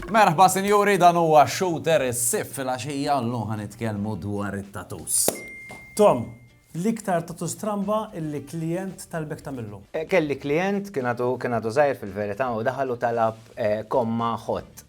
Merħba sinjuri dan huwa shooter is-sif fil-għaxija l ħan nitkellmu dwar it-tatus. Tom, l-iktar tatus stramba illi klient tal-bek tamillu. Eh, kelli klient kien għadu zaħir fil-verita u daħalu talab eh, komma ħott.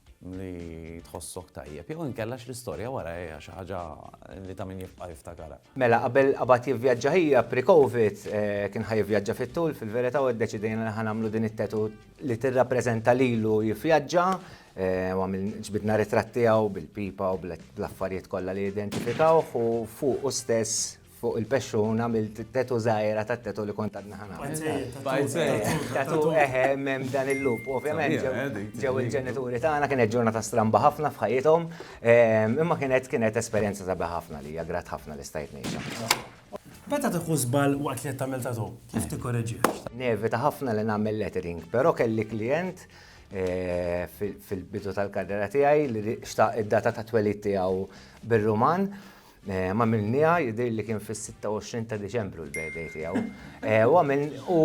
li tħossok tajjeb, jew inkella x'l-istorja wara hija xi ħaġa li ta' min jibqa' jiftakarha. Mela, qabel qabad jivvjaġġa hija pre-Covid, kien ħa jivvjaġġa fit-tul, fil-verità u ddeċidejna li ħa nagħmlu din it-tattoo li tirrappreżenta lilu jivvjaġġa, u ġbidna ritratt tiegħu bil-pipa u bl-affarijiet kollha li jidentifikawh u fuqu stess, Fuq il-pexxun għamilt tetu żgħira tat-tetu li kont għadni ħana. Tatu eħe hemm dan il-lup. Ovvjament ġew il-ġenituri tagħna kienet ġurnata stramba ħafna f'ħajjithom, ehm, imma kienet kienet esperjenza sabiħa ħafna li hija grat ħafna li stajt ngħixha. Meta tieħu żball waqt li qed tagħmel tatu, kif tikkoreġi? Nevita ħafna li nagħmel lettering, però kelli klijent eh, fil-bidu tal-karriera tiegħi li xtaq id-data ta' twelid tiegħu bir-Ruman Għamilniha, jidhirli li kien fis-26 ta' Diċembru l-birthday tiegħu. U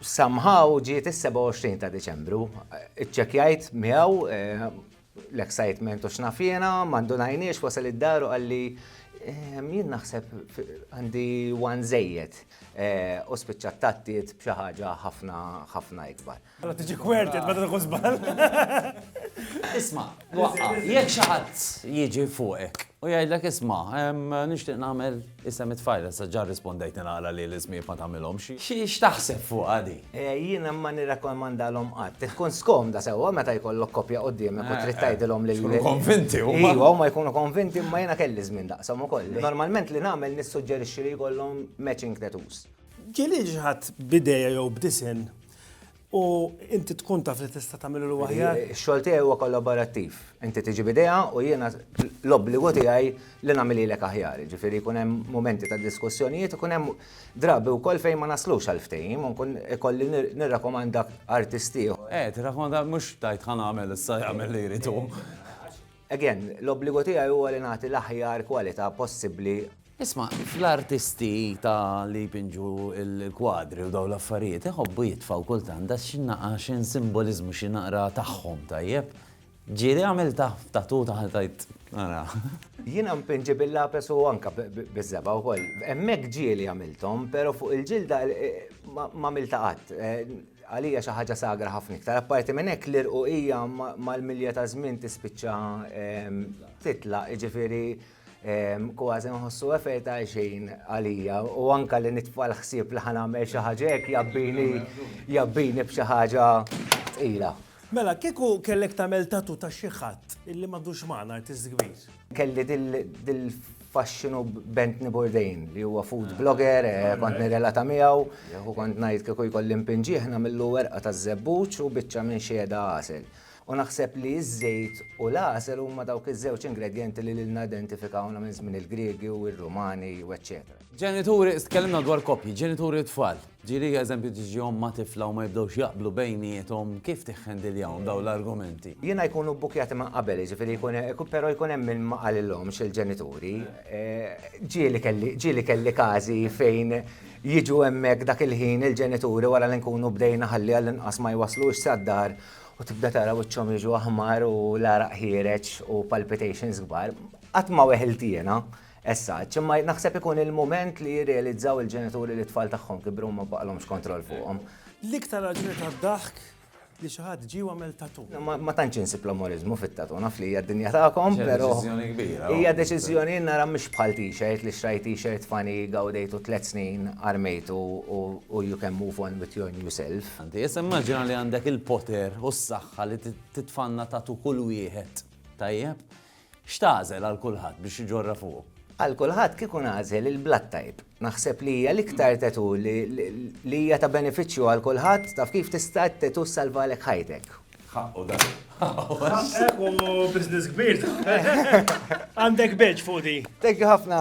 somehow ġiet is-27 ta' Diċembru. Iċċekjajt miegħu l-excitement u x'nafjena, ma ndunajniex wasal id-daru qalli jien naħseb għandi one żejjed u spiċċat tattiet b'xi ħaġa ħafna ħafna ikbar. Allora tiġi kwertet meta tkun żball. Isma', waqqa', jekk xi ħadd jiġi fuqek u jgħidlek isma', nixtieq nagħmel isem it-tfajla, sa ġa rrispondejtni naqra li l-ismijiet ma tagħmilhomx. X'taħseb fuqha di? Jiena ma nirrakkomandalhom qatt. Tkun skomda sewwa meta jkollok koppja quddiemek u trid tgħidilhom li. Jkunu konvinti huma. Iva, huma jkunu konvinti imma jiena kelli żmien daqshom ukoll. Normalment li nagħmel nissuġġerixxi li jkollhom matching tattoos. Ġieli xi ħadd b'idea jew b'disinn u inti tkun taf li tista' tagħmilu l aħjar. Ix-xogħol tiegħi huwa kollaborattiv. Inti tiġi bidejha u jiena l-obbligu tiegħi li nagħmel ilek aħjar. Ġifieri jkun hemm momenti ta' diskussjonijiet, ikun hemm drabi wkoll fejn ma naslux għal ftehim u nkun ikolli nirrakomanda artisti. Eh, tirrakomanda mhux tajt ħa nagħmel issa jagħmel li jrid hu. Again, l-obbligu tiegħi huwa li nagħti l-aħjar kwalità possibbli Isma', fl-artisti ta' li jpinġu l-kwadri u dawn l-affarijiet iħobbu jitfgħu kultant daxxinnaqa' x'insimboliżmu xi naqra tagħhom, tajjeb? Ġieli għamiltha f'tattoo ta' ħa tgħid, ara. Jiena npinġi bil-lapes u anke biż-żebgħa wkoll. Hemmhekk ġieli għamilthom, però fuq il-ġilda m'għamiltha qatt. Għalija xi ħaġa sagra ħafna iktar. Apparti minn hekk l-irquqija mal-milja taż-żmien tispiċċa titlaq, jiġifieri. Kważi nħossu efer ta' xejn għalija u anka li nitfa' l-ħsieb li ħanamel xi ħaġa hekk jabbini jabbini b'xi ħaġa tqila. Mela, kieku kellek tagħmel tattoo ta' xi ħadd illi m'għadux magħna, artist kbir? Kelli dil-faxxinu b'Anthony Bourdain li huwa food blogger, kont nirrelata miegħu u kont ngħid kieku jkolli npinġih nagħmillu werqa taż-żebbuġ u biċċa minn xhieda għasel. U naħseb li ż-żejt u l-għasel huma dawk iż-żewġ ingredjenti li lilna identifikawna minn żmien il-Griegi u r-Rumani u eċċetera. Ġenituri, tkellimna dwar koppji, ġenituri u tfal. Ġieli eżempju tiġi omm ma' tifla u ma jibdewx jaqblu bejniethom, kif tiħħendiljahom dawn l-argumenti? Jiena jkunu bbukkjati minn qabel, jiġifieri jkun hemm, però jkun hemm min ma qalilhomx il-ġenituri. Ġieli kelli, ġieli kelli każi fejn jiġu hemmhekk dak il-ħin il-ġenituri wara li nkunu bdejna ħalli għall-inqas ma jwasslux sad-dar u tibda tara wiċċhom jiġu aħmar u l-għaraq ħiereġ u palpitations kbar, qatt ma weħilt jiena essaċ, imma naħseb ikun il-mument li jirrealizzaw il-ġenituri li tfal tagħhom kibru ma baqalhomx kontroll fuqhom. L-iktar raġuni tad-daħk li xi ħadd ġie għamel tatu. Ma tantx insib l-amorizmu fit-tatu, naf li hija d-dinja tagħkom, però. Deċiżjoni kbira. Hija deċiżjoni nara mhux bħal t-shirt li xrajt t-shirt fani gawdejtu tliet snin armejtu u you can move on with your new self. Inti issa immaġina li għandek il-poter u s-saħħa li titfanna tattoo kull wieħed, tajjeb? X'tagħżel għal kulħadd biex iġorrha fuqu? Għal kulħadd kieku nagħżel il-blood type. Naħseb li hija l-iktar tattoo li hija ta' benefiċċju għal kulħadd, taf kif tista' t-tattoo ssalvalek ħajtek. Ħaqqu dan. Ħaqqek u business kbir. Għandek beġ fuq di. Thank you ħafna.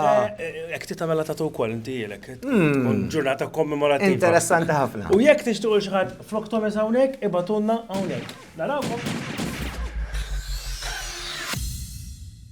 Ek ti tamela tatu wkoll inti jilek. Hmm. Ġurnata kommemorativa. Interessanti ħafna. U jekk tixtuq xi ħadd flok Thomas hawnhekk ibatunna hawnhekk. Narawkom.